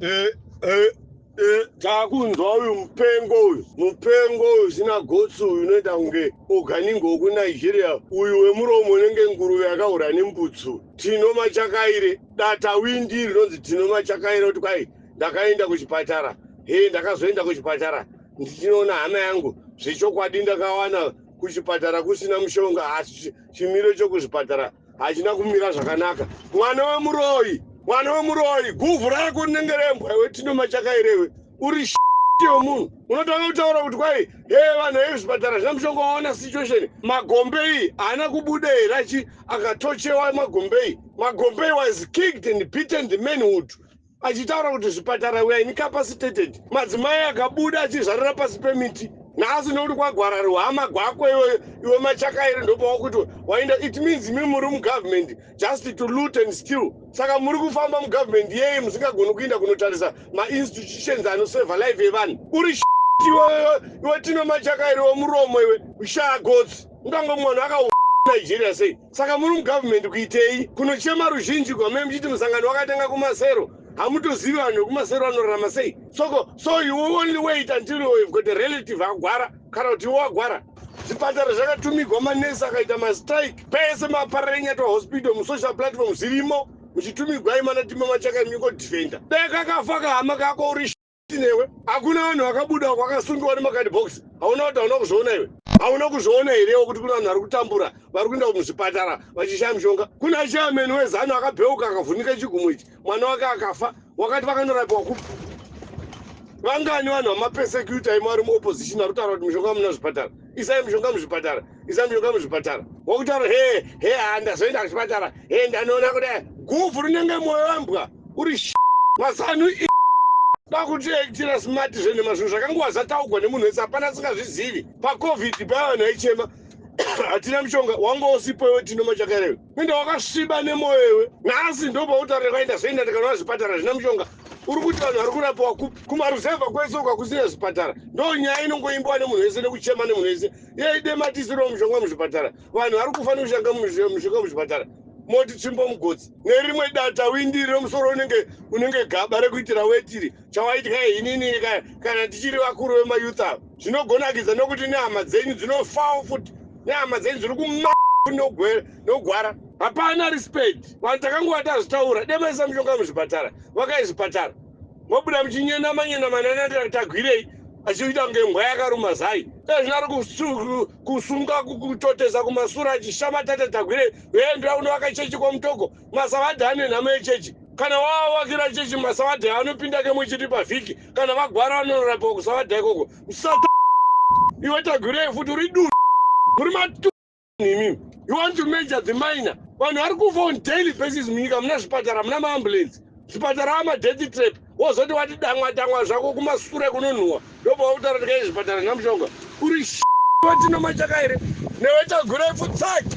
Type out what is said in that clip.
eh, eh, eh, takunzwa uyu mupengo uyu mupengo uyu zina gotsi uyu unoita kunge oganingo wekunigeria uyu wemuromo unenge nguruve yakahura nembutsu tino machakaire data windi rinonzi tino machakaire kuti kwai ndakaenda kuchipatara he ndakazoenda kuchipatara ndichinoona hama yangu zvechokwadi ndakawana kuchipatara kusina mushonga asi chimiro chokuzvipatara hachina kumira zvakanaka mwana wemuroyi mwana wemuroyi guvhu rako rinenge rembwa iwe tino machakairewe uri yomunhu unotanga kutaura kuti kwai he vanhu vezvipatara zvina mushonga waona situation magombei haana kubuda here achi akatochewa magombei magombei was kicked and beaten the manhood achitaura kuti zvipatara we are incapacitated madzimai akabuda achizvarira pasi pemiti nhasi nokuti kwagwara ruhama gwako iwe iwe machakairi ndopawakuti waenda it means mi muri mugovernment just to loot and still saka muri kufamba mugovernment yeye musingagoni kuinda kunotarisa mainstitutions anoseva live yevanhu uri iwewe iwe tino machakairi wemuromo iwe ushaya gotsi ungange mwana aka nigeria sei Saka muri mugovernment kuitei kunochema ruzhinji gwamai muchiti musangano wakatanga kumasero hamutozivi vanhu vekumasero vanorarama sei soko so you only wait until you have got a relative agwara kana kuti iwo agwara zvipatara zvakatumigwa manesi akaita mastrike pese maparara enyatwa hospital musocial platform zvirimo muchitumigwai mana timamachaka imiko defender dai kakafa kahama kako uri newe hakuna vanhu vakabuda kwakasungiwa nemakadibhokisi hauna kuti hauna kuzviona iwe hauna kuzviona herewo kuti kune vanhu vari kutambura vari kuenda muzvipatara vachishaya mushonga kuna chairman wezanu akabheuka akavhunika chigumo ichi mwana wake akafa wakati vakanorapiwa kupi vangani vanhu vamapesecuta imo vari muopposition ari kutaura kuti mushonga muna zvipatara isai mushonga muzvipatara isandiyoka muzvipatara wakutaura hee hee haa ndazoenda kuchipatara hee ndanoona kudai guvhu rinenge mwoyo wembwa uri mazanu kwakutoitira smart zvenhema zvinhu zvakanguva zvataugwa nemunhu wese hapana asingazvizivi pacovid paya vanhu vaichema hatina mushonga wanga usipo iwe tinoma chakarewe Inda wakasviba nemoyo iwe. Nhasi ndopautarira kwaenda zvoenda ndikanoa zvipatara zvina mushonga. Uri kuti vanhu vari kurapiwa kupi? Kumaruzevha kwese uka kusina zvipatara. Ndo nyaya inongoimbiwa nemunhu wese nekuchema nemunhu wese. Yei dematisiro mushonga muzvipatara. Vanhu vari kufa nekushanga mushonga muzvipatara. Moti tsvimbo mugotsi. Nerimwe data windi remusoro unenge unenge gaba rekuitira wetiri. chawaitya inini kana tichiri vakuru vemayouth ava zvinogonakidza nokuti nehama dzenyu dzinofawo futi nehama dzenyu dziri kuma nogwara hapana respect vanhu takangova tazvitaura demaisa mushonga muzvipatara vakai zvipatara mobuda muchinyenamanyenamananati tagwirei achiita kunge mbwa yakaruma zai ezvino ari kusunga kutotesa kumasura achishama tata tagwirei veendura kunovaka chechi kwamutoko masavadhi ane nhamo yechechi kana wavakira chechi masavadhi anopinda kemwe chiri pavhiki kana vagwara vanorapiwa kusavadha ikoko msata iwe tagwirei futi uri duu muri matu nimi you want to major the minor vanhu vari kufa on daily basis munyika muna zvipatara muna maambulensi zvipatara amadeath trap wozoti wati damwa damwa zvako kumasure kunonhuwa ndobva wakutaura tikai zvipatara namushonga uri vatinomatyaka here newe tagurepfu tsaki